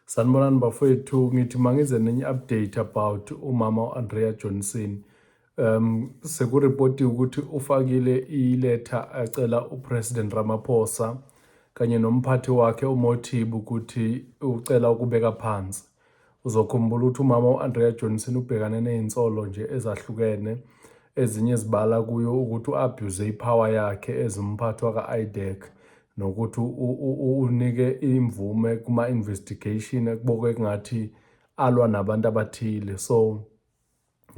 Sanibonani bafowethu ngithi mangize nenye update about umama uAndrea Johnson um sekureportiwe ukuthi ufakile iletha acela uPresident Ramaphosa kanye nomphathi wakhe uMothibu ukuthi ucela ukubeka phansi uzokhumbula ukuthi umama uAndrea Johnson ubhekane nezinsolo nje ezahlukene ezinye zibala kuyo ukuthi uabuse ipower yakhe ezimphathwa kaIDEC nokuthi unike imvume kuma-investigation ekubokwe kungathi alwa nabantu abathile so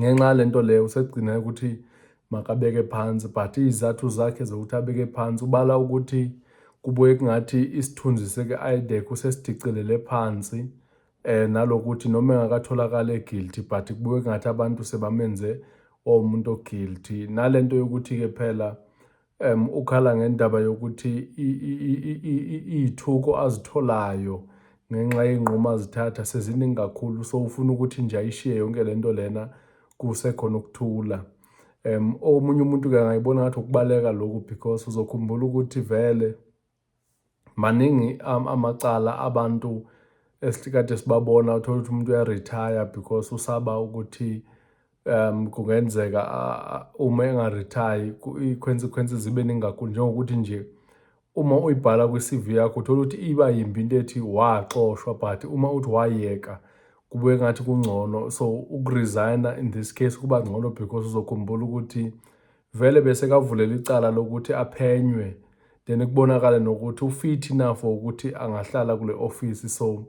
ngenxa yalento leyo usegcina ukuthi makabeke phansi but izathu zakhe zokuthi abeke phansi ubala ukuthi kubuye kungathi isithunzi seke-idec usesidicilele phansi eh nalokuthi noma engakatholakala eguilty but kubuye kungathi abantu sebamenze omuntu oguilty nalento yokuthi ke phela um ukhala ngendaba yokuthi iy'thuko azitholayo ngenxa yey'nqumo azithatha seziningi kakhulu so ufuna ukuthi nje ayishiye yonke le nto lena kusekhona ukuthula um omunye umuntu-ke angayibona ngathi ukubaleka lokhu because uzokhumbula ukuthi vele Maningi amacala abantu esikade sibabona uthole ukuthi umuntu uyaretire because usaba ukuthi um kungenzeka uma engarethayi i-consequence zibe ningi kakhulu njengokuthi nje uma uyibhala kwi-CV yakho uthola ukuthi iba yimbi into ethi waxoshwa but uma uthi wayeka kube ngathi kungcono so ukuresigna in this case kuba ngcono because uzokhumbula ukuthi Vele besekavulela icala lokuthi aphenywe then kubonakale nokuthi ufithi na for ukuthi angahlala kule office so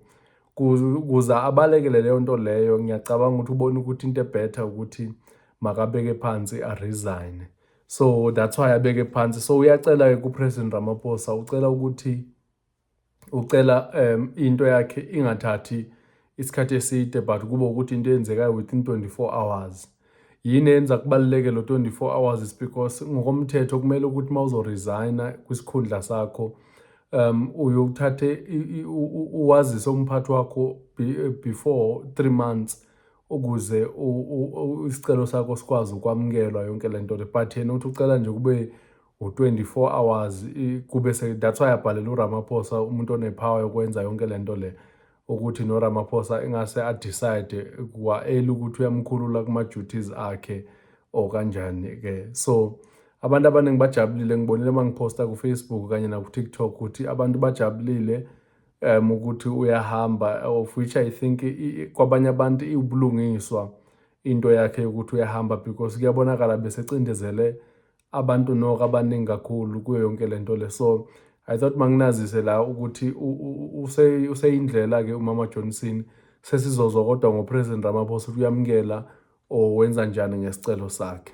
kuza abalekele leyo nto leyo ngiyacabanga ukuthi ubona ukuthi into ebetter ukuthi makabeke phansi aresign so that's why abeke phansi so uyacela-ke kupresident ramaphosa ucela ukuthi ucela um into yakhe ingathathi isikhathi eside but kube ukuthi into eyenzekayo within 24 hours yini yenza kubaluleke lo 24 hours is because ngokomthetho kumele ukuthi uma uzoresigna kwisikhundla sakho um uyothathe uwazise umphathi wakho before 3 months ukuze isicelo sakho sikwazi ukwamukelwa yonke le nto le but yena uthi ucela nje kube ngo-24 hours kube se that's why abhalela uRamaphosa umuntu onepower yokwenza yonke lento le ukuthi noRamaphosa engase adecide kwaeli ukuthi uyamkhulula kuma duties akhe or kanjani ke so abantu abaningi bajabulile ngibonile uma ngiphosta kufacebook kanye naku-tiktok ukuthi abantu bajabulile um ukuthi uyahamba of which i think kwabanye abantu iwubulungiswa into yakhe yokuthi uyahamba because kuyabonakala besecindezele abantu noko abaningi kakhulu kuyo yonke le nto le so i thought manginazise la ukuthi useyindlela-ke umama johnson sesizozwa kodwa ngopresident ramaphosa ukuthi uyamukela or wenza njani ngesicelo sakhe